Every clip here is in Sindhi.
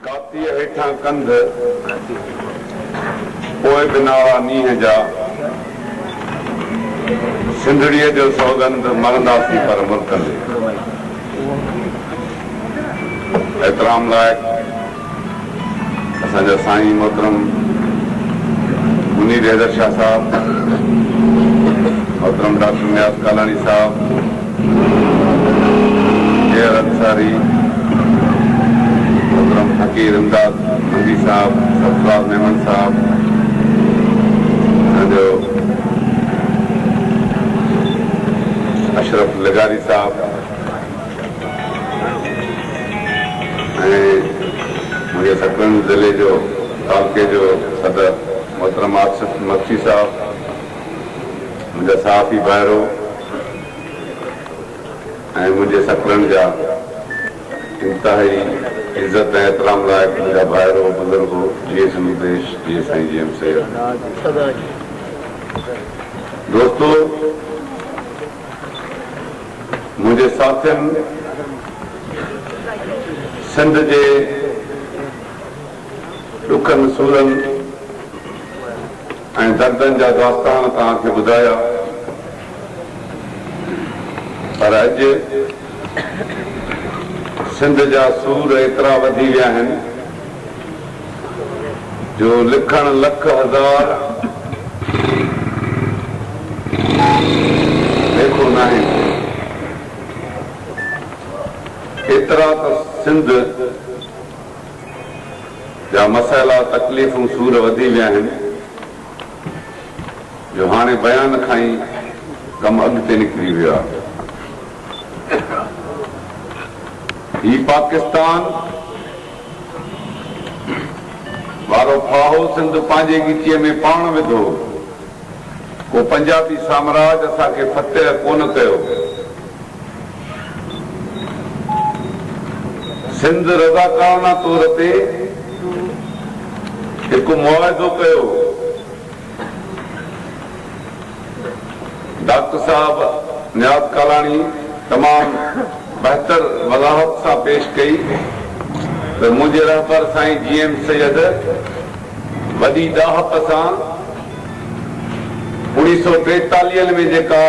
ڪاتيء هيٺان ڪنڌ، پوء به نالا نينهن جا، سنڌڙيء جو سوڳنڌ، مرنداسين پر مرڪندي. احترام لائق اسان جا سائين محترم منير حيدر شاهه صاحب، محترم ڊاڪٽر نياز ڪالاڻي صاحب، غير انصاري محترم فقير امداد حمدي صاحب، سبزوار ميمڻ صاحب اسان جو اشرف لغاري صاحب ۽ منهنجي سڪرنڊ ضلعي جو تعلقي جو صدر محترم آصف مگسي صاحب منهنجا صحافي ڀائرو ۽ منهنجي سڪلن جا انتهائي عزت ۽ احترام لائق منهنجا ڀائرو بزرگو جيئي سنڌ ديش جيئي سائين جي ايم سيد دوستو منهنجي ساٿين سنڌ جي ڏکن سورن ۽ دردن جا داستان توهان کي ٻڌايا پر اڄ سنڌ جا سور ايترا وڌي ويا آهن جو لکڻ لک هزار ليکو ناهي ايترا ته سنڌ جا مسئلا، تڪليفون، سور وڌي ويا آهن جو هاڻي بيان کان ئي ڪم اڳتي نڪري ويو آهي. هي پاڪستان وارو ڦاهو سنڌ پنهنجي ڳچيء ۾ پاڻ وڌو. ڪو پنجابي سامراج اسان کي فتح ڪونه ڪيو. سنڌ رضاڪارانه طور تي هڪ معاهدو ڪيو. ڊاڪٽر صاحب نياز ڪالاڻي تمام بهتر وضاحت سان پيش ڪئي ته منهنجي رهبر سائين جي ايم سيد، وڏي ڏاهپ سان اوڻيهه سؤ ٽيتاليهن ۾ جيڪا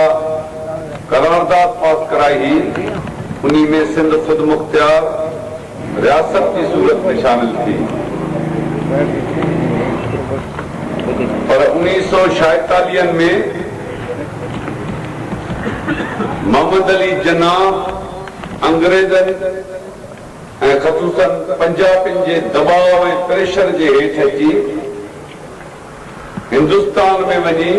قرارداد پاس ڪرائي هئي، انهي ۾ سنڌ خودمختيار رياست جي صورت ۾ شامل ٿي، پر اوڻيهه سؤ ڇائيتاليهن ۾ محمد علي جناح انگريزن. ۽ خصوصاً پنجابين جي دٻاء ۽ پريشر جي هيٺ اچي هندستان ۾ وڃي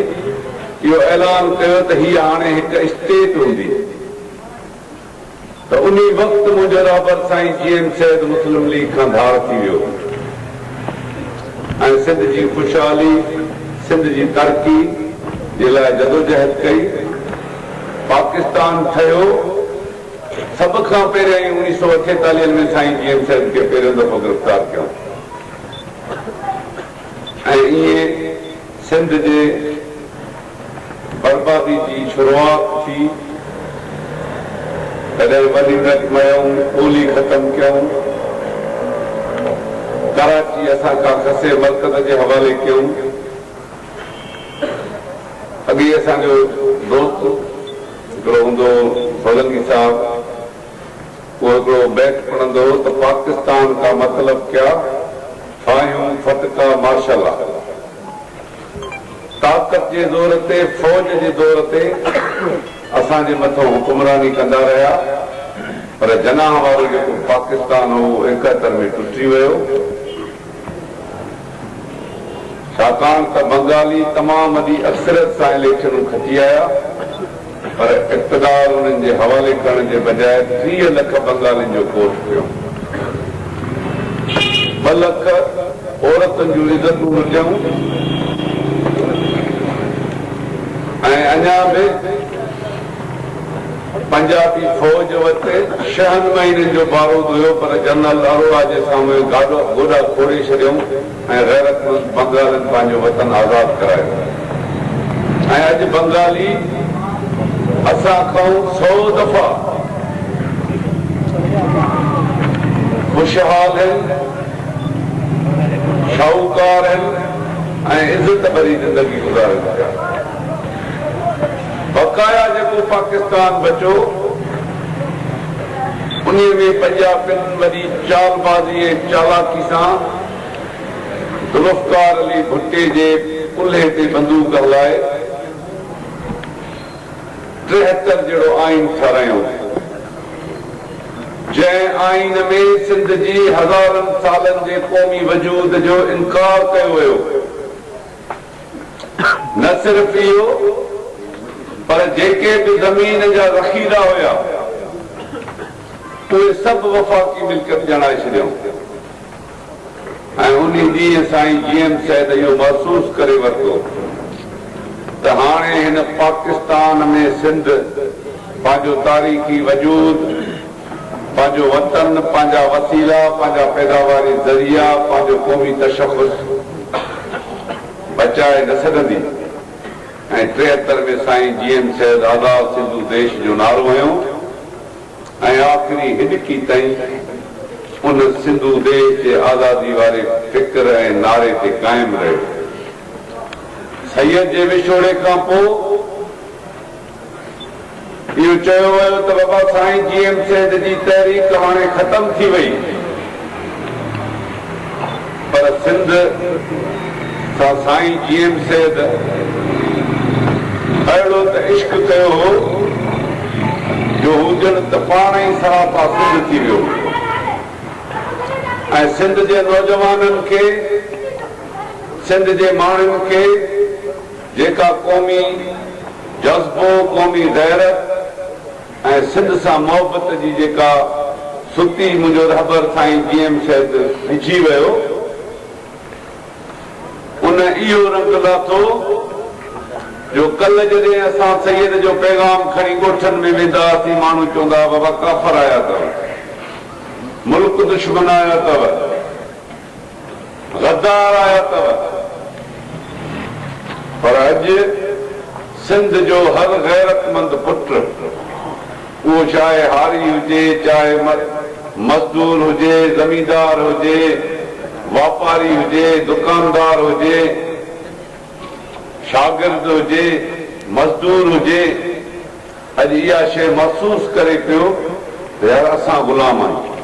اهو اعلان ڪيو ته هيء هاڻي هڪ اسٽيٽ هوندي ته انهي وقت منهنجو رهبر سائين جي ايم سيد مسلم ليگ کان ڌار ٿي ويو ۽ سنڌ جي خوشحالي سنڌ جي ترقي جي لاء جدوجهد ڪئي پاڪستان ٺهيو. سڀ کان پهريائين اڻيهه سؤ اٺيتاليهن ۾ سائين جي ايم سيد کي پهريون دفعو گرفتار ڪيائون ۽ ائين سنڌ جي بربادي جي شروعات ٿي تڏهن وري ڊٽ ميائون ٻولي ختم ڪيائون ڪراچي اسان کان کسي مرڪز جي حوالي ڪيائون اڳي اسان جو دوست هڪڙو هوندو هو سولنگي صاحب، اهو هڪڙو بيت پڙهندو هو ته پاڪستان ڪا مطلب ڪيا، ڦاهيون ڦٽڪا مارشلا. طاقت جي زور تي، فوج جي دور تي اسان جي مٿان حڪمراني ڪندا رهيا، پر جناح وارو جيڪو پاڪستان هو اهو ايڪهتر ۾ ٽٽي ويو. ڇاڪاڻ ته بنگالي تمام وڏي اڪثريت سان اليڪشنون کٽي آيا پر اقتدار انهن جي حوالي ڪرڻ جي بجاء ٽيهه لک بنگالين جو ڪوٺ ٽيو، ٻه لک عورتن جون عزتون لٽيائون ۽ اڃا به. پنجابي فوج وٽ ڇهن مهينن جو بارود هيو پر جنرل اروڙا جي سامهون گاڏا گوڏا کوڙي ڇڏيائون ۽ غيرتمند بنگالين پنهنجو وطن آزاد ڪرايو ۽ اڄ بنگالي اسان کائون سئو دفعا خوشحال هن، شاهوڪار هن ۽ عزت ڀري زندگي گذارين پيا. بقايا جيڪو پاڪستان بچو انهي ۾ پنجابين وڏي چالبازي ۽ چالاڪي سان ذوالفقار علي ڀٽي جي ڪلهي تي بندوق هلائي ٽيهتر جهڙو آئين ٺهرايائون جنهن آئين ۾ سنڌ جي هزارن سالن جي قومي وجود جو انڪار ڪيو ويو. نه صرف اهو پر جيڪي به زمين جا ذخيرا هيا اهي سڀ وفاقي ملڪيت ڄاڻائي ڇڏيائون ۽ انهي ڏينهن سائين جي ايم سيد اهو محسوس ڪري ورتو ته هاڻي هن پاڪستان ۾ سنڌ پنهنجو تاريخي وجود پنهنجو وطن، پنهنجا وسيلا، پنهنجا پيداواري ذريعا، پنهنجو قومي تشخص بچائي نه سگهندي ۽ ٽيهتر ۾ سائين جي ايم سيد آزاد سنڌو ديش جو نعرو هنيو ۽ آخري هڏڪي تائين ان سنڌو ديش جي آزادي واري فڪر ۽ نعري تي قائم رهيو. سيد جي وڇوڙي کان پوء، اهو چيو ويو ته بابا سائين جي ايم سيد جي تحريڪ هاڻي ختم ٿي وئي پر سنڌ سان سائين جي ايم سيد اهڙو ته عشق ڪيو هو جو هو ڄڻ ته پاڻ ئي سراپا سنڌ ٿي ويو هو ۽ سنڌ جي نوجوانن کي سنڌ جي ماڻهن کي جيڪا قومي جذبو، قومي غيرت ۽ سنڌ سان محبت جي جيڪا ستي منهنجو رهبر سائين جي ايم سيد وجهي ويو ان اهو رنگ لاٿو جو ڪلهه جڏهن اسان سيد جو پيغام کڻي ڳوٺن ۾ ويندا هئاسين ماڻهو چوندا هئا بابا ڪافر آيا اٿو ملڪ دشمن آيا اٿو. غدار آيا اتو پر اڄ سنڌ جو هر غيرتمند پٽ اهو چاهي هاري هجي چاهي مزدور هجي زميندار هجي واپاري هجي دڪاندار هجي شاگرد هجي مزدور هجي. اڄ اها شيء محسوس ڪري پيو ته يار اسان غلام آهيون.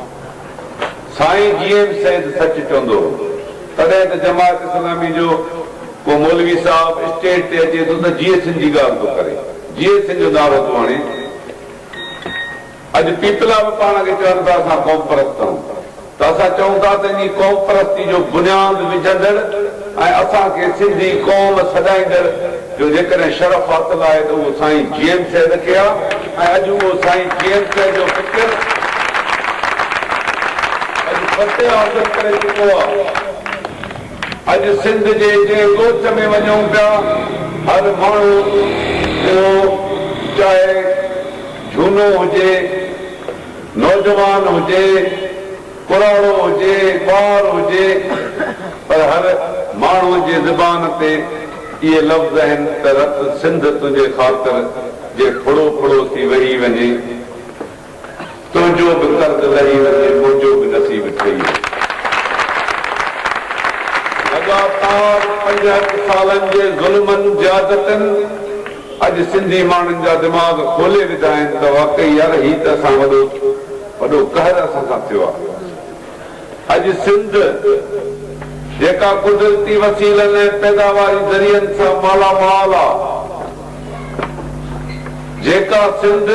سائين جي ايم سيد سچ چوندو هو. تڏهن ته جماعت اسلامي جو ڪو مولوي صاحب اسٽيج تي اچي ٿو ته جيئي سنڌ جي ڳالهه ٿو ڪري. جيئي سنڌ جو نعرو ٿو هڻي. اڄ پيپلا به پاڻ کي چون ٿا اسان قوم پرست آهيون. ته اسان چئون ٿا ته انهي قوم پرستي جو بنياد وجهندڙ ۽ اسان کي سنڌي قوم سڏائيندڙ جو جيڪڏهن شرف حاصل آهي ته اهو سائين جي ايم سيد کي آهي ۽ اڄ اهو سائين جي ايم سيد جو فڪر اڄ فتح حاصل ڪري چڪو آهي. اڄ سنڌ جي جنهن ڳوٺ ۾ وڃون پيا هر ماڻهو اهو چاهي جهونو هجي، نوجوان هجي، پراڻو هجي، ٻار هجي پر هر ماڻهوء جي زبان تي اهي لفظ آهن ته رت سنڌ تنهنجي خاطر جي ڦڙو ڦڙو ٿي وهي وڃي، تنهنجو به قرض لهي وڃي، منهنجو به نصيب ٺهي وڃي. لڳاتار پنجهٺ سالن جي ظلمن، زيادتين، اڄ سنڌي ماڻهن جا دماغ کولي وڌا آهن ته واقعي يار هي ته اسان وڏو وڏو قهر اسان سان ٿيو آهي اڄ سنڌ جيڪا قدرتي وسيلن ۽ پيداواري ذريعن سان مالا مال آهي جيڪا سنڌ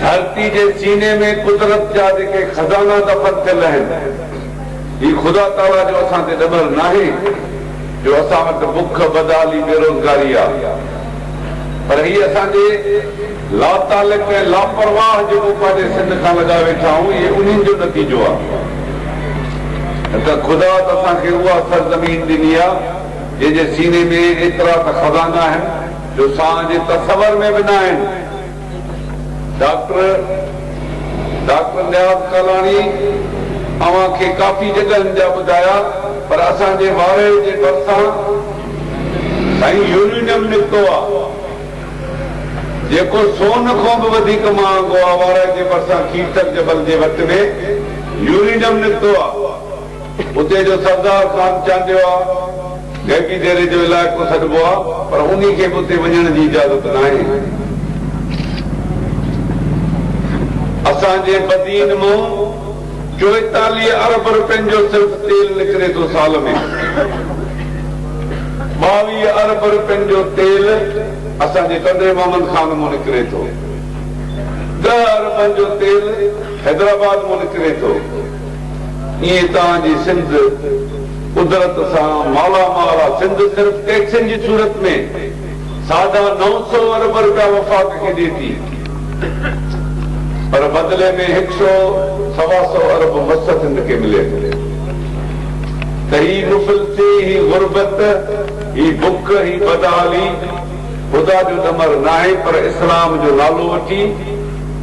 ڌرتي جي سيني ۾ قدرت جا جيڪي خزانا دفن ٿيل آهن، هي خدا تعاليٰ جو اسان تي ڏنل ناهي جو اسان وٽ بک، بدحالي، بيروزگاري آ، پر هي اسان جي لاتعلق ۽ لاپرواهه جيڪو پنهنجي سنڌ کان لڳائي ويٺا آهيون، اهي انهن جو نتيجو آ. نه ته خدا ته اسان کي اها سرزمين ڏني آ، جنهن جي سيني ۾ ايترا ته خزانا آهن، جو سان جي تصور ۾ به ناهن. ڊاڪٽر ڊاڪٽر نياز ڪالاڻي اوهان کي ڪافي جڳهن جا ٻڌايا پر اسان جي وارهي جي ڀرسان سائين يورينيم نڪتو آ جيڪو سون کون به وڌيڪ مهانگو آ وارهي جي ڀرسان کيرٿر جبل جي وٽ ۾ يورينيم نڪتو آ. اتي جو سردار خان چانڊيو آ، گهيٽي ديري جو علائقو سڏبو آ، پر انهي کي به اتي وڃڻ جي اجازت ناهي. اسان جي بدين مئو چوئيتاليهه ارب رپين جو صرف تيل نڪري ٿو سال ۾. ٻاويهه ارب رپين جو تيل اسان جي ٽنڊي محمد خان مئو نڪري ٿو. ڏهه اربن جو تيل حيدرآباد مئو نڪري ٿو. ايئن توهان جي سنڌ قدرت سان مالا مال آ. سنڌ صرف ٽيڪسن جي صورت ۾ ساڍا نو سؤ ارب روپيا وفاق کي ڏي ٿي پر بدلي ۾ هڪ سؤ سوا سؤ ارب مس سنڌ کي ملي ٿو ته هي مفلسي هي غربت هي بک هي بدحالي خدا جو ڏمر ناهي پر اسلام جو نالو وٺي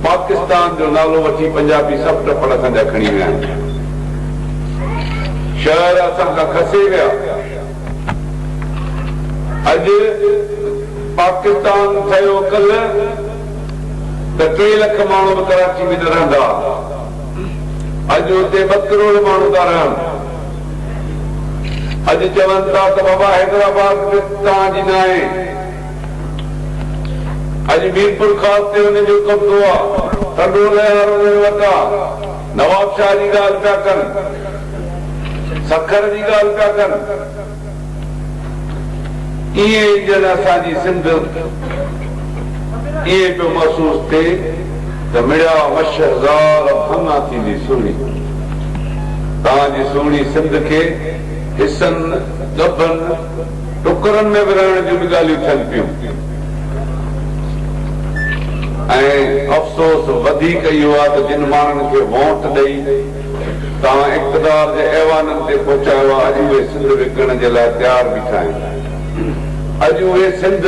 پاڪستان جو نالو وٺي پنجابي سڀ ٽپڙ اسان جا کڻي ويا آهن. شهر اسان کان کسي ويا. اڄ پاڪستان ٺهيو ڪلهه ته ٽي لک ماڻهو به ڪراچي ۾ نه رهندا ها. اڄ اتي ٻه ڪروڙ ماڻهو ٿا رهن. اڄ چون ٿا ته بابا حيدرآباد به توهان جي ناهي. اڄ ميرپورخاص تي انهن جو قبضو آ ته ڏولهه هر انهن وٽ آ. نوابشاهه جي ڳالهه پيا ڪن. سکر جي ڳالهه پيا ڪن. ائين ڄڻ اسان جي سنڌ ائين پيو محسوس ٿئي ته مڙيا مشهه زال ڀاڱا ٿيندي سهڻي. توهان جي سهڻي سنڌ کي حصن، ڳڀن، ٽڪرن ۾ ورهائڻ جون به ڳالهيون ٿين پيون ۽ افسوس وڌيڪ اهو آهي ته جن ماڻهن کي وونٽ ڏئي توهان اقتدار جي ايوانن تي پهچايو آهي اڄ اهي سنڌ وڪڻڻ جي لاء تيار بيٺا آهن اڄ اهي سنڌ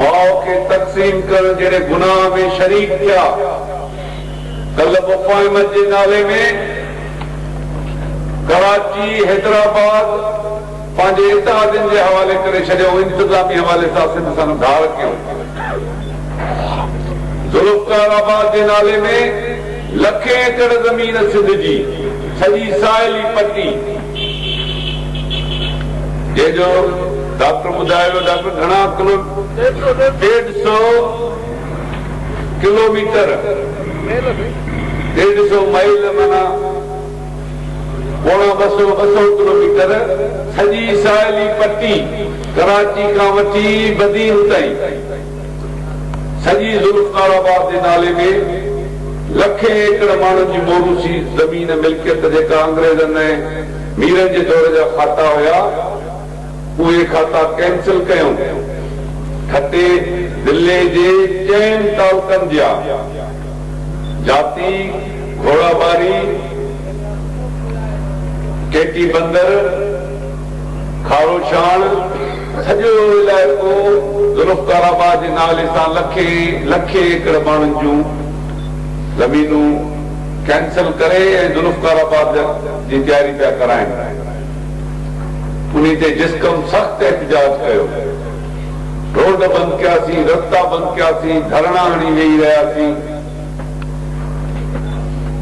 ماء کي تقسيم ڪرڻ جهڙي گناهه ۾ شريڪ ٿيا ڪلهه مفاهمت جي نالي ۾ ڪراچي حيدرآباد پنهنجي اتحادين جي حوالي ڪري ڇڏيو، انتظامي حوالي سان سنڌ سان گهاڙ ڪيو، ذوالفقار آباد جي نالي ۾ لکين ايڪڙ زمين سنڌ جي سڄي ساحلي پٽي جنهن جو ڊاڪٽر ٻڌايو ويو ڊاڪٽر گهڻا ڪلو ڏيڍ سئو ڪلوميٽر ڏيڍ سئو مائيل معنيٰ پوڻا ٻه سئو ٻه سئو ڪلوميٽر سڄي ساحلي پٽي ڪراچي کان وٺي بدين تائين سڄي ذوالفقار آباد جي نالي ۾ لکين ايڪڙ ماڻهن جي موروثي زمين ملڪيت جيڪا انگريزن ۽ ميرن جي دور جا کاتا هيا اهي کاتا ڪينسل ڪيون. ٺٽي ضلعي جي چئن تعلقن جيا جاتي، گهوڙاٻاري، ڪي ٽي بندر، کاروشاڻ، سڄو علائقو ذوالفقار آباد جي نالي سان لکين لکين ايڪڙ ماڻهن جون زمينون ڪينسل ڪري ۽ ذوالفقار آباد جي تياري پيا ڪرائين. انهي تي جسقم سخت احتجاج ڪيو، روڊ بند ڪياسين، رستا بند ڪياسين، ڌرڻا هڻي ويهي رهياسين.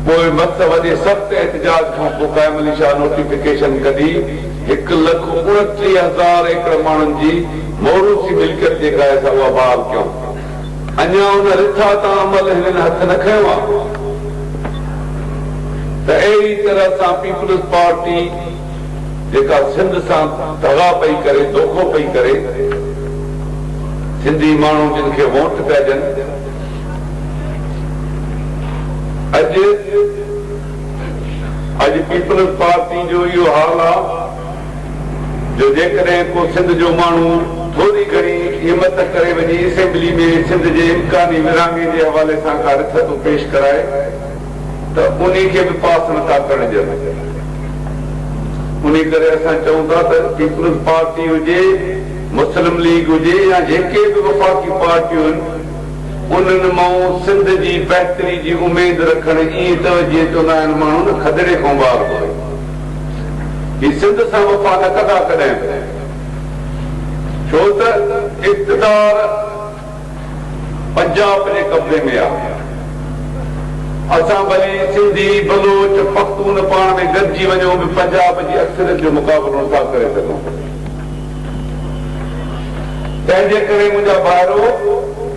پوء مس وڏي سخت احتجاج کان پوء قائم علي شاهه نوٽيفڪيشن ڪڍي هڪ لک اڻٽيهه هزار ايڪڙ ماڻهن جي موروثي ملڪيت جيڪا آهي سا اها بحال ڪيون. اڃا ان رٿا تان عمل هنن هٿ نه کنيو آهي ته اهڙي طرح سان پيپلز پارٽي جيڪا سنڌ سان دغا پئي ڪري، دوکو پئي ڪري، سنڌي ماڻهو جن کي وونٽ پيا ڏين اڄ اڄ پيپلز پارٽي جو اهو حال آهي. جو جيڪڏهن ڪو سنڌ جو ماڻهو ٿوري گهڻي همت ڪري وڃي اسيمبلي ۾ سنڌ جي امڪاني ورهاڱي جي حوالي سان ڪا رٿتو پيش ڪرائي ته انهي کي به پاس نٿا ڪرڻ ڏين انهي ڪري اسان چئون ٿا ته پيپلز پارٽي هجي مسلم ليگ هجي يا جيڪي به وفاقي پارٽيون آهن انهن مئون سنڌ جي بهتري جي اميد رکڻ ايئن ته جيئن چوندا آهن ماڻهو نه کدڙي کان ٻار ٿو هي سنڌ سان وفا نه ڪندا ڪڏهن به ڇو ته اقتدار پنجاب جي قبضي ۾ آ اسان ڀلي سنڌي بلوچ پختون پاڻ ۾ گڏجي وڃون به پنجاب جي اڪثريت جو مقابلو نه ٿا ڪري سگهون تنهنجي ڪري منهنجا ڀائرو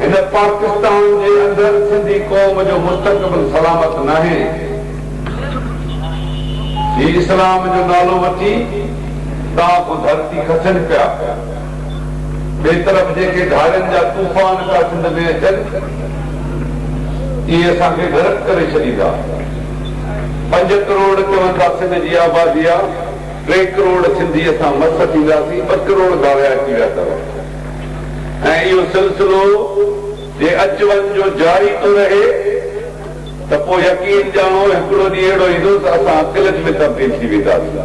هن پاڪستان جي اندر سنڌي قوم جو مستقبل سلامت ناهي. هي اسلام جو نالو وٺي تان پوء ڌرتي کسن پيا. ٻئي طرف جيڪي گهارين جا طوفان پيا سنڌ ۾ اچن اهي اسان کي غرق ڪري ڇڏيندا. پنج ڪروڙ چون ٿا سنڌ جي آبادي آ، ٽي ڪروڙ سنڌي اسان مس ٿينداسين ٻه ڪروڙ گهاريا اچي ويا اٿو ۽ اهو سلسلو جي اچ وڃ جو جاري ٿو رهي. ته پوء يقين ڄاڻو هڪڙو ڏينهن اهڙو ايندو ته اسان قلج ۾ تبديل ٿي وينداسين.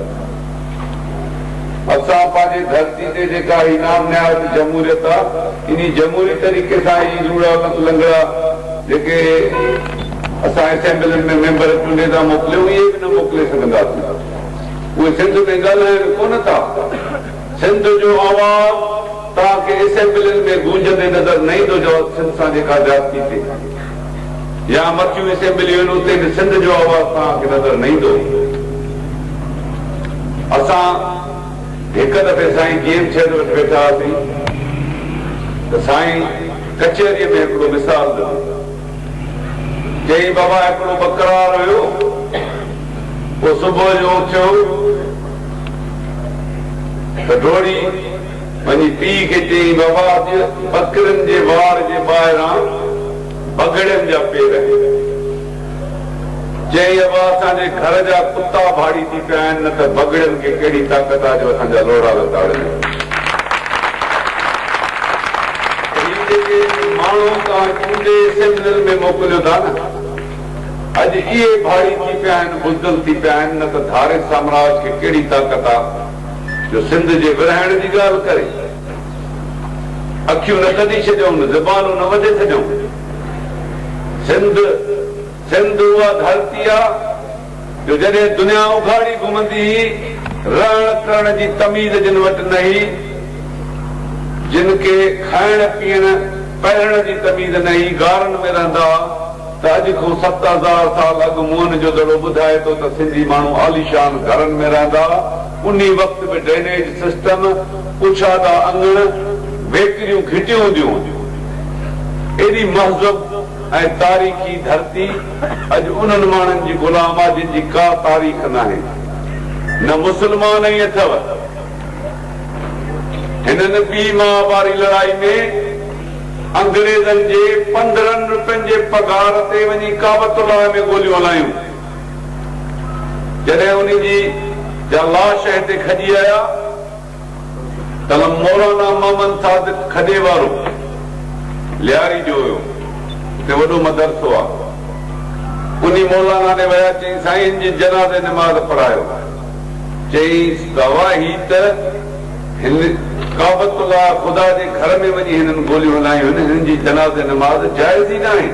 اسان پنهنجي ڌرتي تي جيڪا هي نام نهاد جمهوريت آ، انهي جمهوري طريقي سان هي لوڙها لنگڙا جيڪي اسان اسيمبلين ۾ ميمبر چونڊي ٿا موڪليون، اهي به نه موڪلي سگهنداسين. اهي سنڌ ۾ ڳالهائڻ ڪونه ٿا. سنڌ جو آواز توهان کي اسيمبلين ۾ گونجندي نظر نه ايندو جو سنڌ سان جيڪا زيادتي ٿئي. يا مٿيون اسيمبليون آهن اتي به سنڌ جو آواز توهان کي نظر نه ايندو. اسان هڪ دفعي سائين جي ايم سيد وٽ ويٺا هئاسين ته سائين ڪچهريء ۾ هڪڙو مثال ڏنو. چيائين بابا هڪڙو ٻڪرار هيو اهو صبح جو اٿيو ته ڊوڙي وڃي پيء کي چيائين، بابا اڄ ٻڪرين جي واڙ جي ٻاهران بگهڙين جا پير آهن. چيائين، ابا اسان جي گهر جا ڪتا ڀاڙي ٿي پيا آهن نه ته بگهڙين کي ڪهڙي طاقت آهي جو اسان جا لوڙها نه تاڙين. ته هي جيڪي ماڻهو توهان چونڊي اسيمبلين ۾ موڪليو ٿا نه اڄ اهي ڀاڙي ٿي پيا آهن بزدل ٿي پيا آهن نه ته ڌاري سامراج کي ڪهڙي طاقت آ. جو سنڌ جي ورهائڻ جي ڳالهه ڪري. اکيون نه ڪڍي ڇڏيون، زبانون نه وڍي ڇڏيون. سنڌ، سنڌ اها ڌرتي آ، جو جڏهن دنيا اگهاڙي گهمندي هئي، رهڻ ڪرڻ جي تميز جن وٽ نه هئي، جن کي کائڻ پيئڻ پهرڻ جي تميز نه هئي، غارن ۾ رهندا ها. ته اڄ کان ست هزار سال اڳ موهن جو دڙو ٻڌائي ٿو ته سنڌي ماڻهو عاليشان گهرن ۾ رهندا ها، انهي وقت به ڊرينيج سسٽم، ڪشادا اڱڻ، ويڪريون گهٽيون هونديون هون. ايڏي مهذب ۽ تاريخي ڌرتي اڄ انهن ماڻهن جي غلام آ جن جي ڪا تاريخ ناهي. نه مسلمان ائين اٿئو. هنن ٻي مها ڀاري لڙائي ۾. انگريزن جي پندرهن روپين جي پگهار تي وڃي ڪعبت الله ۾ گوليون هلايون. جڏهن انهي جي جا لاش هتي کڄي آيا ته مولانا محمد صادق کڏي وارو لياري جو هيو اتي وڏو مدرسو آ انهي مولانا ڏي ويا چئين سائين هن جي جنازي نماز پڙهايو چيس ته اوا هي ته هن ڪعبت الله، خدا جي گهر، ۾ وڃي هنن گوليون هلايون آهن، هنن جي جنازي نماز جائز ئي ناهي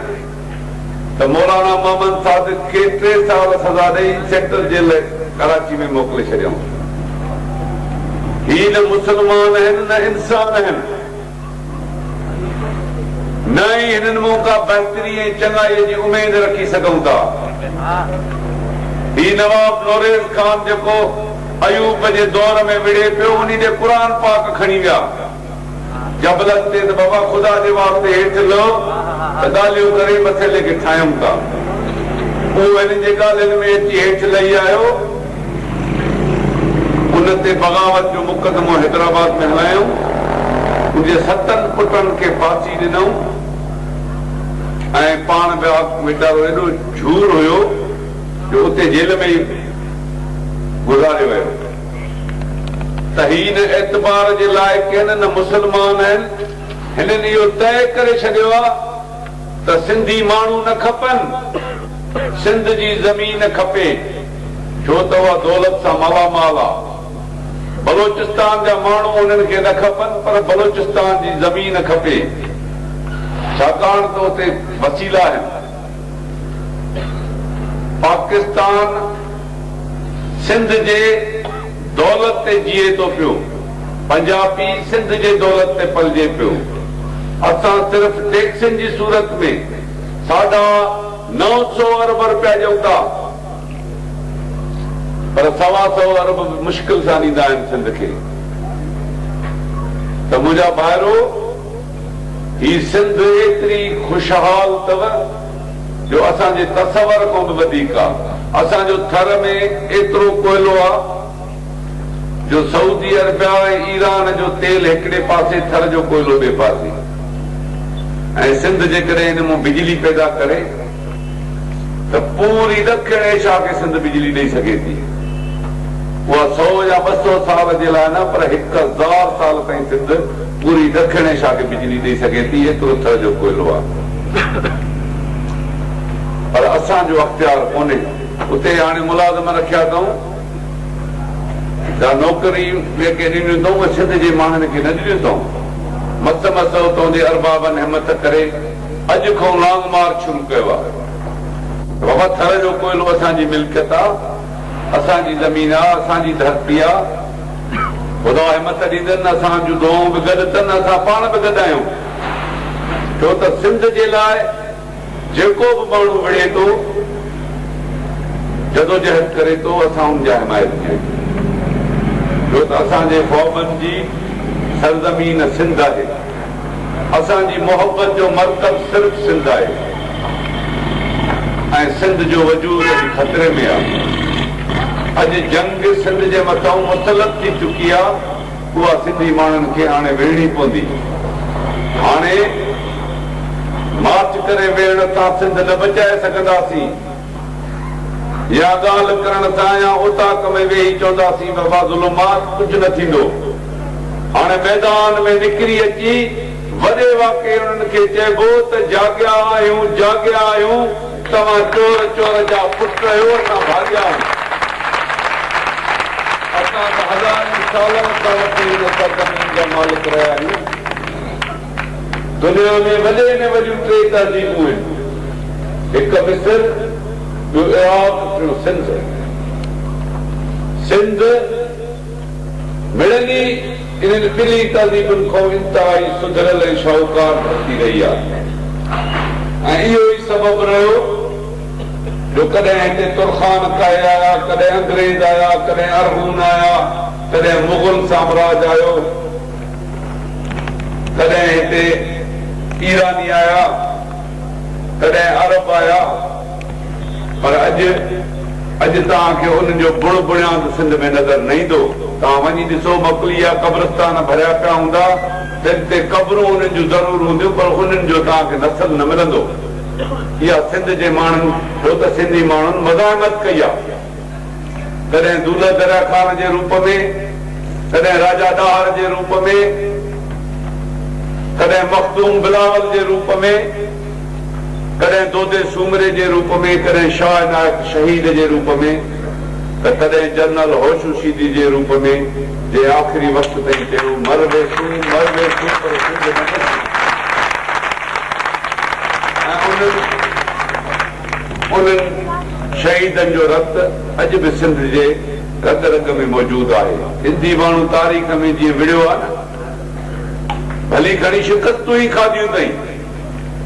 ته مولانا محمد صادق کي ٽي سال سزا ڏئي سينٽرل جيل ڪراچي ۾ موڪلي ڇڏيائون. هي نه مسلمان آهن نه انسان آهن. نه ئي هنن مان ڪا بهتري ۽ چڱائيء جي اميد رکي سگهون ٿا. هي نواب نوريز خان جيڪو ايوب جي دور ۾ وڙهي پيو، انهي ڏي قرآن پاڪ کڻي ويا. جبلن تي ته بابا خدا جي واسطي هيٺ لهه ته ڳالهيون ڪري مسئلي کي ٺاهيون ٿا. اهو هنن جي ڳالهين ۾ اچي هيٺ لهي آيو. ان تي بغاوت جو مقدمو حيدرآباد ۾ هلايائون. ان جي ستن پٽن کي ڦاسي ڏنائون ۽ پاڻ به آگو ويچارو ايڏو جھور هيو جو اتي جيل ۾ ئي گذاري ويو ته هي نه اعتبار جي لائق آهن نه مسلمان آهن هنن اهو طئي ڪري ڇڏيو آهي ته سنڌي ماڻهو نه کپن، سنڌ جي زمين کپي، ڇو ته اها دولت سان مالا مال آ. بلوچستان جا ماڻهو انهن کي نه کپن پر بلوچستان جي زمين کپي، ڇاڪاڻ ته اتي وسيلا آهن. پاڪستان سنڌ جي. دولت تي جيئي ٿو پيو، پنجابي سنڌ جي دولت تي پلجي پيو. اسان صرف ٽيڪسن جي صورت ۾ ساڍا نو سؤ ارب رپيا ڏيون ٿا پر سوا سؤ ارب به مشڪل سان ڏيندا آهن سنڌ کي ته منهنجا ڀائرو! هي سنڌ ايتري خوشحال اٿو جو اسان جي تصور کان به وڌيڪ آ. اسان جو ٿر ۾ ايترو ڪوئلو آ جو سعودي عربيا ۽ ايران جو تيل هڪڙي پاسي ٿر جو ڪوئلو ٻئي پاسي ۽ سنڌ جيڪڏهن ان مان بجلي پيدا ڪري. ته پوري ڏکڻ ايشيا کي سنڌ بجلي ڏئي سگهي ٿي. اها سؤ يا ٻه سؤ سال جي لاء نه پر هڪ هزار سال تائين سنڌ پوري ڏکڻ ايشيا کي بجلي ڏئي سگهي ٿي ايترو ٿر جو ڪوئلو آهي. پر اسان جو اختيار ڪونهي. اتي هاڻي ملازم رکيا اٿئون جا نوڪري جيڪي ڏنيون اٿئون اهي سنڌ جي ماڻهن کي نه ڏنيون اٿئون. مس مس اتئون جي اربابن همت ڪري. اڄ کان لانگ مارچ شروع ڪيو آهي. بابا ٿر جو ڪوئلو اسان جي ملڪيت آ، اسان جي زمين آ، اسان جي ڌرتي آ. خدا همت ڏيندن، اسان جون دعائون به گڏ تن، اسان پاڻ به گڏ آهيون. ڇو ته سنڌ جي لاء جيڪو به ماڻهو وڙهي ٿو، جدوجهد ڪري ٿو، اسان ان جا حمايت ڪيون ٿا. ڇو ته اسان جي خوابن جي سرزمين سنڌ آهي. اسان جي محبت جو مرڪز صرف سنڌ آهي ۽ سنڌ جو وجود اڄ خطري ۾ آهي. اڄ جنگ سنڌ جي مٿئون مسلط ٿي چڪي آهي، اها سنڌي ماڻهن کي هاڻي وڙهڻي پوندي. هاڻي مارچ ڪري ويڙهه تان سنڌ نه بچائي سگهنداسين. يا ڳالهه ڪرڻ دانهيان اوطاق ۾ ويهي چونداسين بابا ظلمات ڪجهه نه ٿيندو. هاڻي ميدان ۾ نڪري اچي وڏي واڪي انهن کي چئبو ته جاڳيا آهيون جاڳيا آهيون توهان چور چور جا پٽ رهيو اسان ڀاڳيا آهيون. اسان ته هزارين سالن کان وٺي هن سرزمين جا مالڪ رهيا آهيون. دنيا ۾ وڏي ۾ وڏيون ٽي تهذيبون آهن، هڪ مصر، ٻيو عراق، ٽيون سنڌ. سنڌ مڙني انهن ٻنهي تهذيبن کان انتهائي سڌريل ۽ شاهوڪار ڌرتي رهي آهي ۽ اهو ئي سبب رهيو جو ڪڏهن هتي ترخان ڪاهي آيا، ڪڏهن انگريز آيا، ڪڏهن ارغون آيا، ڪڏهن مغل سامراج آيو. تڏهن هتي ايراني آيا، تڏهن عرب آيا، پر اڄ اڄ توهان کي انهن جو بڻ بڻياند سنڌ ۾ نظر نه ايندو. توهان وڃي ڏسو مڪلي جا قبرستان ڀريا پيا هوندا ته اتي قبرون انهن جون ضرور هونديون پر انهن جو توهان کي نسل نه ملندو. اها سنڌ جي ماڻهن ڇو ته سنڌي ماڻهن مزاحمت ڪئي آ. ڪڏهن دولهه دريا خان جي روپ ۾، ڪڏهن راجا ڏاهر جي روپ ۾، ڪڏهن مخدوم بلاول جي روپ ۾، ڪڏهن دودي سومري جي روپ ۾، ڪڏهن شاهه عنايت شهيد جي روپ ۾، ته ڪڏهن جنرل هوشو شيدي جي روپ ۾، جنهن آخري وقت تائين چيو، مر ويسون، مر ويسون پر سنڌ نه مرندي. ۽ انهن. انهن شهيدن جو رت اڄ به سنڌ جي رڳ رڳ ۾ موجود آهي. سنڌي ماڻهو تاريخ ۾ جيئن وڙهيو آهي نه، ڀلي گهڻي شڪستون ئي کاڌيون اٿئي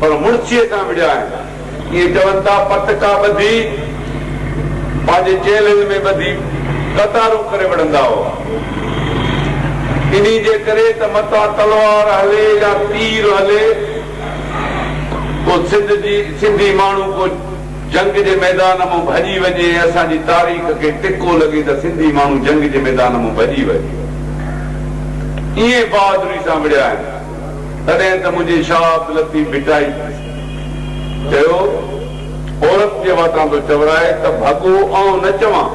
پر مڙسيء سان وڙهيا آهن. ائين چون ٿا پت ڪا ٻڌي، پنهنجي چيلهن ۾ ٻڌي قطارون ڪري وڙهندا هئا. انهي جي ڪري ته متان تلوار هلي يا تير هلي، ڪو سنڌ جي سنڌي ماڻهو ڪو جنگ جي ميدان مون ڀڄي وڃي ۽ اسان جي تاريخ کي ٽڪو لڳي ته سنڌي ماڻهو جنگ جي ميدان مون ڀڄي وڃي ائين بهادري سان وڙهيا آهن تڏهن ته منهنجي شاهه عبداللطيف ڀٽائي چيو عورت جي واتان ٿو چورائي ته ڀڳو آئون نه چوان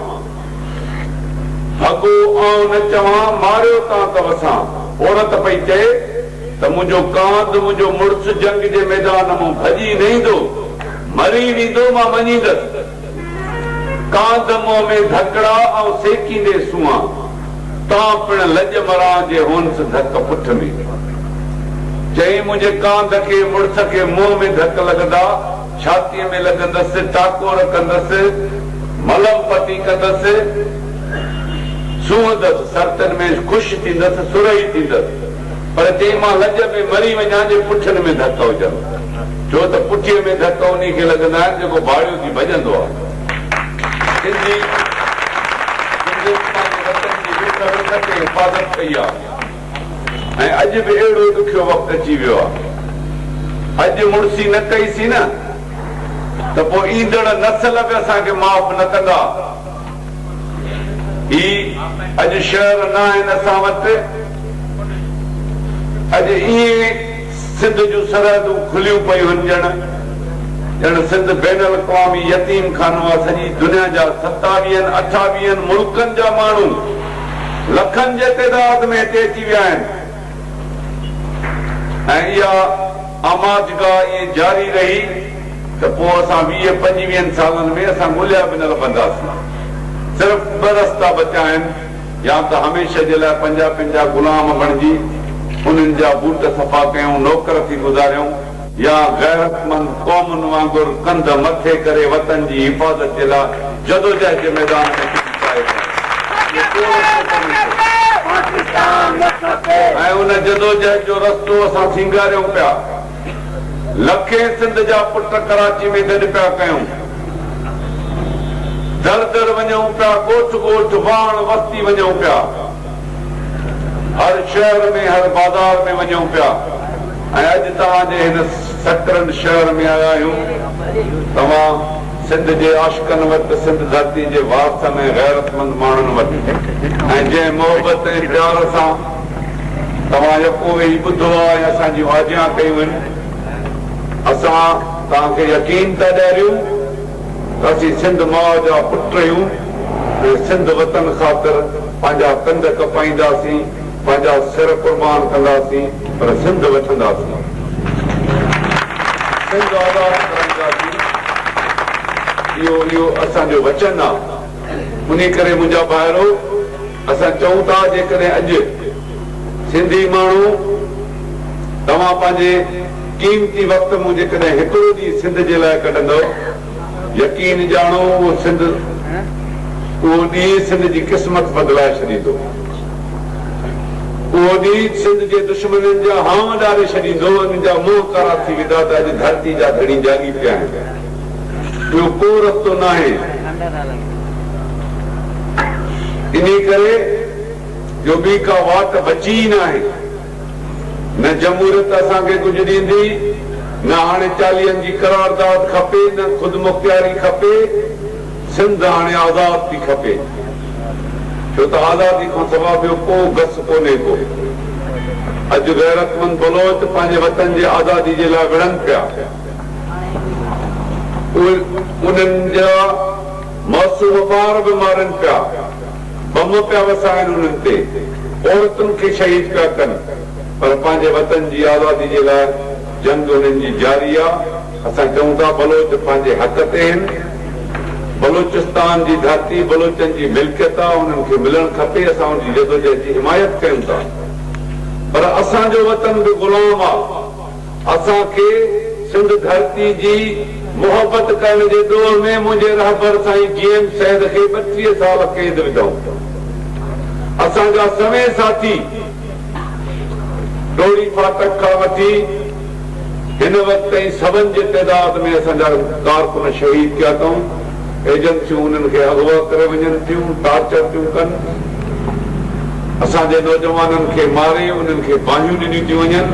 ڀڳو آئون نه چوان ماريو تان ته وسان عورت پئي چئي ته منهنجو ڪانڌ، منهنجو مڙس جنگ جي ميدان مون ڀڄي نه ايندو، مري نه ايندو، مان مڃيندس. ڪانڌ منهن ۾ ڌڪڙا آئون سيڪيندي سوئان، تان پڻ لڄ مران جي هونس ڌڪ پٺ ۾. چيائين، منهنجي ڪانڌ کي، مڙس کي منهن ۾ ڌڪ لڳندا، ڇاتيء ۾ لڳندس، ٽاڪور ڪندس، ملم پٽي ڪندس، سونهندس، سرتن ۾ خوش ٿيندس، سرهي ٿيندس. پر چيائين مان لڄ ۾ مري وڃان جي پٺين ۾ ڌڪ هجن، ڇو ته پٺيء ۾ ڌڪ انهي کي لڳندا آهن جيڪو ڀاڙيو ٿي ڀڄندو آهي. سنڌي سنڌين پنهنجي وطن جي وک وک تي حفاظت ڪئي آهي ۽ اڄ به اهڙو ڏکيو وقت اچي ويو آهي. اڄ مڙسي نه ڪئي سين ته پوء ايندڙ نسل به اسان کي معاف نه ڪندا. هي اڄ شهر ناهن اسان وٽ، اڄ ائين سنڌ جون سرحدون کليون پيون هن ڄڻ ڄڻ سنڌ بين الاقوامي يتيم خانو آ سڄي دنيا جا ستاويهن اٺاويهن ملڪن جا ماڻهو لکن جي تعداد ۾ هتي اچي ويا آهن ۽ اها آماجگاهه ائين جاري رهي. ته پوء اسان ويهه پنجويهن سالن ۾ اسان ڳوليا به نه لڀنداسين. صرف ٻه رستا بچا آهن، يا ته هميشه جي لاء پنجابين جا غلام بڻجي انهن جا بوٽ صفا ڪيون، نوڪر ٿي گذاريون، يا غيرتمند قومن وانگر ڪنڌ مٿي ڪري وطن جي حفاظت جي لاء جدوجهد جي ميدان ۾ ڪجهه ڪائي ڪيون. اهو ڪو رستو ڪونهي ٿيو. ۽ ان جدوجهد جو رستو اسان سينگاريون پيا. لکين سنڌ جا پٽ ڪراچي ۾ گڏ پيا ڪيون. در در وڃون پيا، ڳوٺ ڳوٺ، واهڻ وستي وڃون پيا. هر شهر ۾ هر بازار ۾ وڃون پيا ۽ اڄ توهان جي هن سڪرنڊ شهر ۾ آيا آهيون. توهان سنڌ جي عاشقن وٽ، سنڌ ڌرتي جي وارثن ۽ غيرتمند ماڻهن وٽ ۽ جنهن محبت ۽ پيار سان توهان يڪو ويهي ٻڌو آهي ۽ اسان جي واجهيان ڪيون آهن. اسان توهان کي يقين ٿا ڏياريون ته اسين سنڌ ماء جا پٽ اهيون ۽ سنڌ وطن خاطر پنهنجا ڪنڌ ڪپائينداسين، پنهنجا سر قربان ڪنداسين پر سنڌ وٺنداسين. سنڌ آزاد ڪرائينداسين. اهو اهو اسان جو وچن آهي. انهي ڪري منهنجا ڀائرو اسان چئون ٿا جيڪڏهن اڄ سنڌي ماڻهو توهان پنهنجي قيمتي وقت مون جيڪڏهن هڪڙو ڏينهن سنڌ جي لاء ڪڍندؤ يقين ڄاڻو اهو سنڌ اهو ڏينهن سنڌ جي قسمت بدلائي ڇڏيندو اهو ڏينهن سنڌ جي دشمنن جا هانء اڏاري ڇڏيندو انهن جا منهن ڪارا ٿي ويندا ته اڄ ڌرتي جا ڌڻي جاڳي پيا آهن. ٻيو ڪو رستو ناهي، انهي ڪري جو ٻي ڪا واٽ بچي ئي ناهي. نه جمهوريت اسان کي ڪجهه ڏيندي، نه هاڻي چاليهن جي قرارداد کپي، نه خودمختياري کپي، سنڌ هاڻي آزاد ٿي کپي، ڇو ته آزادي کان سوا ٻيو ڪو گس ڪونهي ڪو. اڄ غيرتمند بلوچ پنهنجي وطن جي آزادي جي لاء وڙهن پيا. اهي انهن جا معصوم ٻار به مارين پيا، بم پيا وسائين انهن تي، عورتن کي شهيد پيا ڪن، پر پنهنجي وطن جي آزادي جي لاء جنگ انهن جي جاري آ، اسان چئون ٿا بلوچ پنهنجي حق تي هن، بلوچستان جي ڌرتي بلوچن جي ملڪيت آ، انهن کي ملڻ کپي، اسان ان جي جدوجهد جي حمايت ڪيون ٿا، پر اسان جو وطن به غلام آ. اسان کي سنڌ ڌرتي جي محبت ڪرڻ جي ڏوهه ۾ منهنجي رهبر سائين جي ايم سيد کي ٻٽيهه سال قيد وڌائون اسان جا سوين ساٿي ڊوڙي ڦاٽڪ کان وٺي هن وقت تائين سون جي تعداد ۾ اسان جا ڪارڪن شهيد ٿيا اٿئون. ايجنسيون انهن کي اغوا ڪري وڃن ٿيون، ٽارچر ٿيون ڪن، اسان جي نوجوانن کي ماري انهن کي باهيون ڏنيون ٿيون وڃن،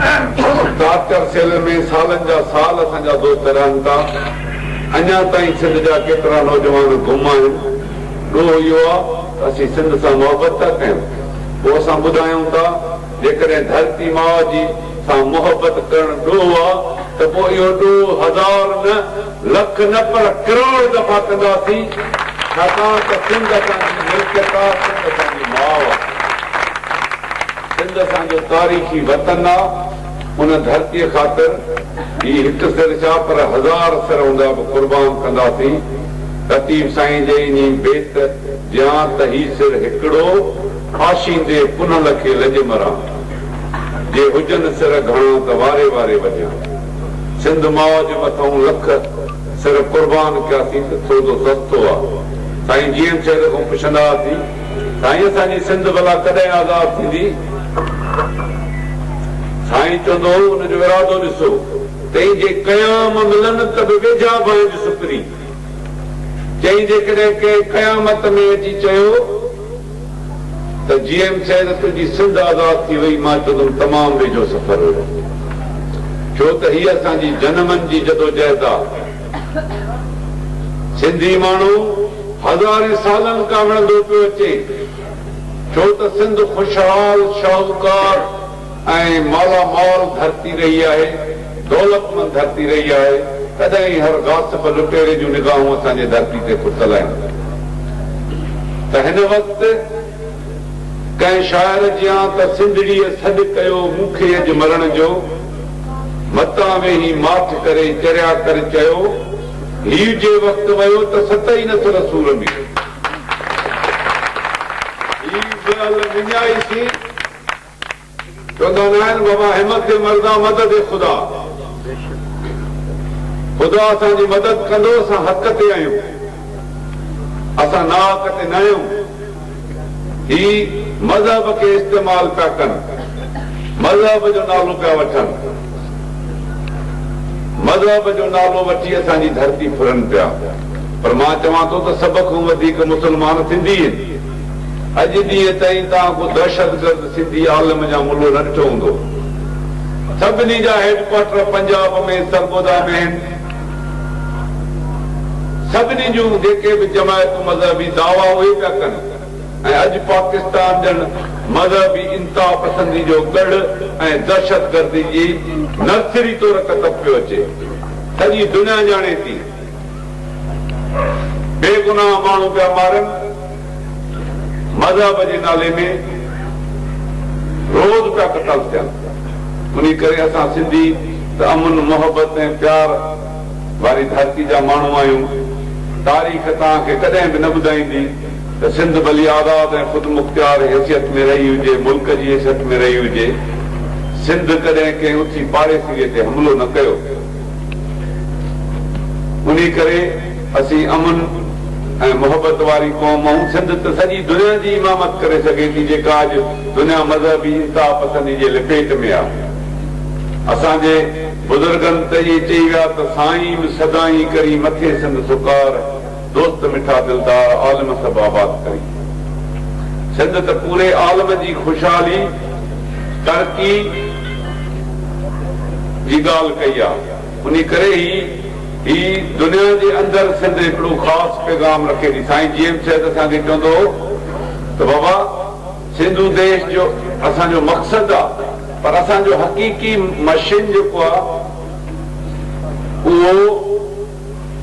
انهن ٽارچر سيل ۾ سالن جا سال اسان جا دوست رهن ٿا، اڃا تائين سنڌ جا ڪيترا نوجوان گم آهن، ڏوهه اهو آ ته اسين سنڌ سان محبت ٿا ڪيون، پوء اسان ٻڌايون ٿا. جيڪڏهن ڌرتي ماء جي سان محبت ڪرڻ ڏوهه آ ته پوء اهو ڏوهه هزار نه، لک نه پر ڪروڙ دفعا ڪنداسين ڇاڪاڻ ته سنڌ اسان جي ملڪيت آ، سنڌ اسان جي ماء آ، سنڌ اسان جو تاريخي وطن آ، ان ڌرتي خاطر هي هڪ سر ڇا پر هزار سر هوندا به قربان ڪنداسين، لطيف سائين جي انهي بيت جيان ته هي سر هڪڙو، ڦاسيندي پنهل کي لڄ مران. جي هجن سر گهڻا ته واري واري وجهان. سنڌ ماء جي مٿئون لک سر قربان ڪياسين ته سودو سستو آ. سائين جي ايم سيد کان پڇندا هئاسين، سائين اسان جي سنڌ ڀلا ڪڏهن آزاد ٿيندي؟ سائين چوندو هو ان جو ارادو ڏسو. تئين جي قيام ملن ته به ويجها بانج سپرين. چئين جيڪڏهن ڪنهن قيامت ۾ اچي چيو. ته جي ايم سيد تنهنجي سنڌ آزاد ٿي وئي مان چوندم تمام ويجهو سفر هيو ڇو ته هيء اسان جي جنمن جي جدوجهد آ سنڌي ماڻهو هزارين سالن کان وڙهندو پيو اچي ڇو ته سنڌ خوشحال شاهوڪار ۽ مالا مال ڌرتي رهي آهي، دولتمند ڌرتي رهي آهي، تڏهن ئي هر غاصب لٽيري جون نگاهون اسان جي ڌرتي تي پتل آهن ته هن وقت ڪنهن شاعر جيان ته سنڌڙيء سڏ ڪيو مون کي اڄ مرڻ جو، متان ويهي ماٺ ڪري چريا ڪر چيو هي جي وقت ويو ته ست ئي نسل سور ۾ هي به ال مڃائيسين. چوندا ناهن بابا همت جي مردا مدد اي خدا خدا اسان جي مدد ڪندو اسان حق تي آهيون اسان ناحق تي ناهيون هي مذهب کي استعمال پيا ڪن مذهب جو نالو پيا وٺن مذهب جو نالو وٺي اسان جي ڌرتي ڦرن پيا پر مان چوان ٿو ته سڀ کان وڌيڪ مسلمان سنڌي آهن اڄ ڏينهن تائين توهان ڪو دهشتگرد سنڌي عالم يا ملو نه ڏٺو هوندو. سڀني جا هيڊ ڪوارٽر پنجاب ۾ سرگوڌا ۾ آهن. سڀني جون جيڪي به جماعتون مذهبي دعويٰ اهي پيا ڪن ۽ اڄ پاڪستان ڄڻ مذهبي انتها پسندي جو ڳڙهه ۽ دهشتگردي جي نرسري طور ڪتب پيو اچي. سڄي دنيا ڄاڻي ٿي. بي گناهه ماڻهو پيا مارن مذهب جي نالي ۾ روز پيا قتل ٿين انهي ڪري اسان سنڌي ته امن محبت ۽ پيار واري ڌرتي جا ماڻهو آهيون تاريخ توهان کي ڪڏهن به نه ٻڌائيندي ته سنڌ ڀلي آزاد ۽ خودمختيار حيثيت ۾ رهي هجي ملڪ جي حيثيت ۾ رهي هجي سنڌ ڪڏهن ڪنهن اٿي پاڙيسري تي حملو نه ڪيو انهي ڪري اسين امن ۽ محبت واري قوم آهيون. سنڌ ته سڄي دنيا جي امامت ڪري سگهي ٿي جيڪا اڄ دنيا مذهبي انتها پسندي جي لپيٽ ۾ آهي. اسان جي بزرگن ته ائين چئي ويا ته سائين سدائين ڪرين مٿي سنڌ سڪار دوست مٺا دلدار عالم سڀ آباد ڪرين سنڌ ته پوري عالم جي خوشحالي ترقي جي ڳالهه ڪئي آ انهي ڪري هي هي دنيا جي اندر سنڌ هڪڙو خاص پيغام رکي ٿي سائين جي ايم سيد اسان کي چوندو هو ته بابا سنڌو ديش جو اسان جو مقصد آ پر اسان جو حقيقي مشن جيڪو آ اهو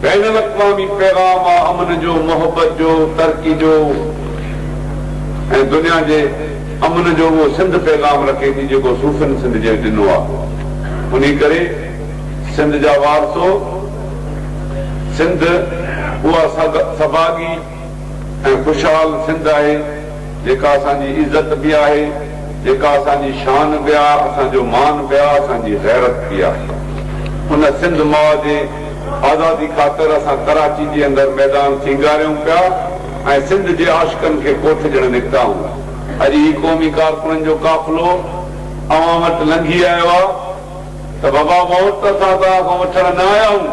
بين الاقوامي پيغام آ امن جو، محبت جو، ترقي جو ۽ دنيا جي امن جو اهو سنڌ پيغام رکي ٿي جيڪو صوفين سنڌ جي ڏنو آ انهي ڪري سنڌ جا وارثو سنڌ اها سڀاڳي ۽ خوشحال سنڌ آهي جيڪا اسان جي عزت به آهي جيڪا اسان جي شان به آ اسان جو مان به آ اسان جي غيرت به آهي ان سنڌ ماء جي آزادي خاطر اسان ڪراچي جي اندر ميدان سينگاريون پيا ۽ سنڌ جي عاشقن کي ڪوٺ ڏيڻ نڪتائون اڄ هي قومي ڪارڪنن جو قافلو اوهان وٽ لنگهي آيو آ ته بابا ووٽ ته اسان توهان کان وٺڻ نه آيا آهون.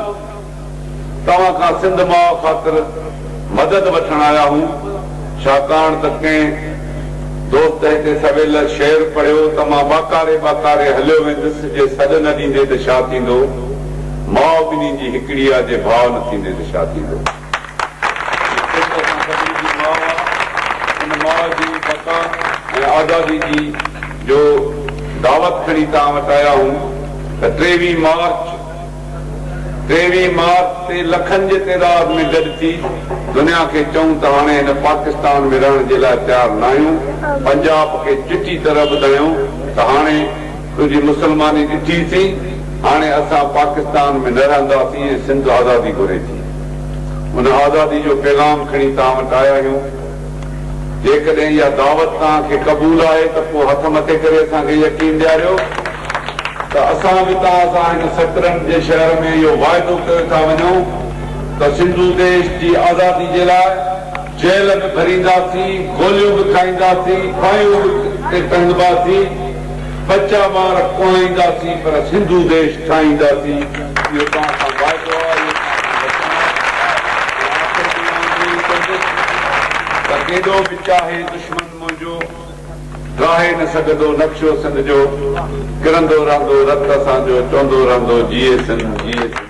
توهان کان سنڌ ماء خاطر مدد وٺڻ آيا آهيون، ڇاڪاڻ ته ڪنهن دوست هتي سويل شعر پڙهيو ته مان ٻاڪاري ٻاڪاري هليو ويندس جي سڏ نه ڏيندي ته ڇا ٿيندو، ماء ٻنهي جي هڪڙي آ جي ڀاء نه ٿيندي ته ڇا ٿيندو. جيڪي ته اسان سڀني جي ماء آ، ان ماء جي بقا ۽ آزادي جي جو دعوت کڻي توهان وٽ آيا آهيون ته ٽيويهين مارچ، ٽيويهين مارچ تي لکن جي تعداد ۾ گڏ ٿي دنيا کي چئون ته هاڻي هن پاڪستان ۾ رهڻ جي لاء تيار ناهيون، پنجاب کي چٽي طرح ٻڌايون ته هاڻي تنهنجي مسلماني ڏٺي سين، هاڻي اسان پاڪستان ۾ نه رهنداسين ۽ سنڌ آزادي گهري ٿي. ان آزادي جو پيغام کڻي توهان وٽ آيا آهيون. جيڪڏهن اها دعوت توهان کي قبول آهي ته پوء هٿ مٿي ڪري اسان کي يقين ڏياريو. ته اسان به توهان سان هن سڪرنڊ جي شهر ۾ اهو واعدو ڪيو ٿا وڃون ته سنڌو ديش جي آزادي جي لاء جيل به ڀرينداسين، گوليون به کائينداسين، ڦاهيون به تي ٽنگباسين، ٻچا ٻار ڪوهائينداسين پر سنڌو ديش ٺاهينداسين، اهو توهان سان واعدو آهي، اهو توهان سان وچن آهي. ۽ آخر ۾ آئون ائين ئي چوندس ته ڪيڏو به چاهي دشمن منهنجو ڪاهي نه سگهندو نقشو سنڌ جو، ڪرندو رهندو رت اسان جو، چوندو رهندو جيئي سنڌ، جيئي سنڌ.